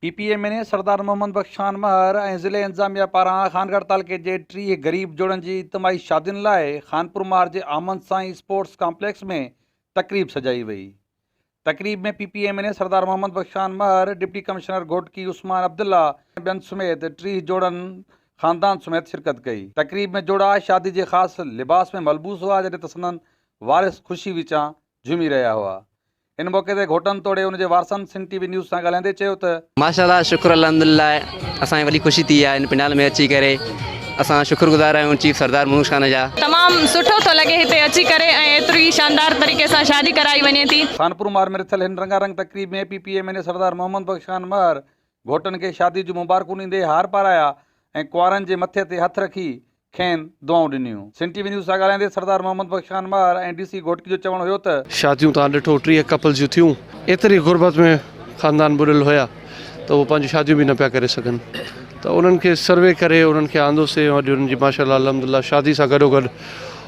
P P M N A Sardar Muhammad Bakhsh Khan Mahar ۽ ضلعي انتظاميا پاران خانڳڙهه تعلقي جي ٽيهه غريب جوڙن جي اجتماعي شادين لاء خانپور مار جي آمن سائين اسپورٽس ڪامپليڪس ۾ تقريب سجائي وئي تقريب ۾ P P M N A Sardar Muhammad Bakhsh Khan Mahar deputy commissioner Ghotki Usman Abdullah ۽ ٻين سميت ٽيهه جوڙن خاندان سميت شرڪت ڪئي تقريب ۾ جوڙا شادي جي خاص لباس ۾ ملبوس هئا جڏهن ته سندن وارث خوشي وچان جهومي رهيا هئا ان موقعي تي گهوٽن توڙي ان جي وارثن سنڌ ٽي وي نيوز سان ڳالهائيندي چيو ته. ماشاءالله شڪر الحمدلله اسان کي وڏي خوشي ٿي آهي هن پنڊال ۾ اچي ڪري اسان شڪر گذار آهيون چيف سردار منوش خان جا. تمام سٺو ٿو لڳي هتي اچي ڪري ۽ ايتري شاندار طريقي سان شادي ڪرائي وڃي ٿي. خانپور مار ۾ رٿيل هن رنگا رنگ تقريب ۾ P P M N A Sardar Muhammad Bakhsh Khan Mahar گهوٽن کي شادي جون مبارڪون ڏيندي هار پارايا ۽ ڪنوارن جي مٿي تي هٿ رکي کين دعائون ڏنيون. سنڌ ٽي وي نيوز سان ڳالهائيندي سردار محمد بخش خان ماهر ۽ ڊي سي گهوٽڪي جو چوڻ هيو ته. شاديون توهان ڏٺو ٽيهه ڪپلز جون ٿيون ايتري غربت ۾ خاندان ٻڏل هيا ته اهي پنهنجون شاديون به نه پيا ڪري سگهن ته انهن کي سروي ڪري انهن کي آندوسي ۽ اڄ انهن جي ماشاء الله الحمد لله شادي سان گڏوگڏ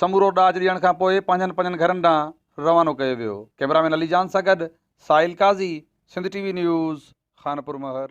سمورو ڏاج ڏيڻ کان پوء پنهنجن پنهنجن گهرن ڏانهن روانو ڪيو ويو. ڪئميرا مين علي جان سان گڏ Sahil Qazi, Sindh T V news, Khanpur مهر.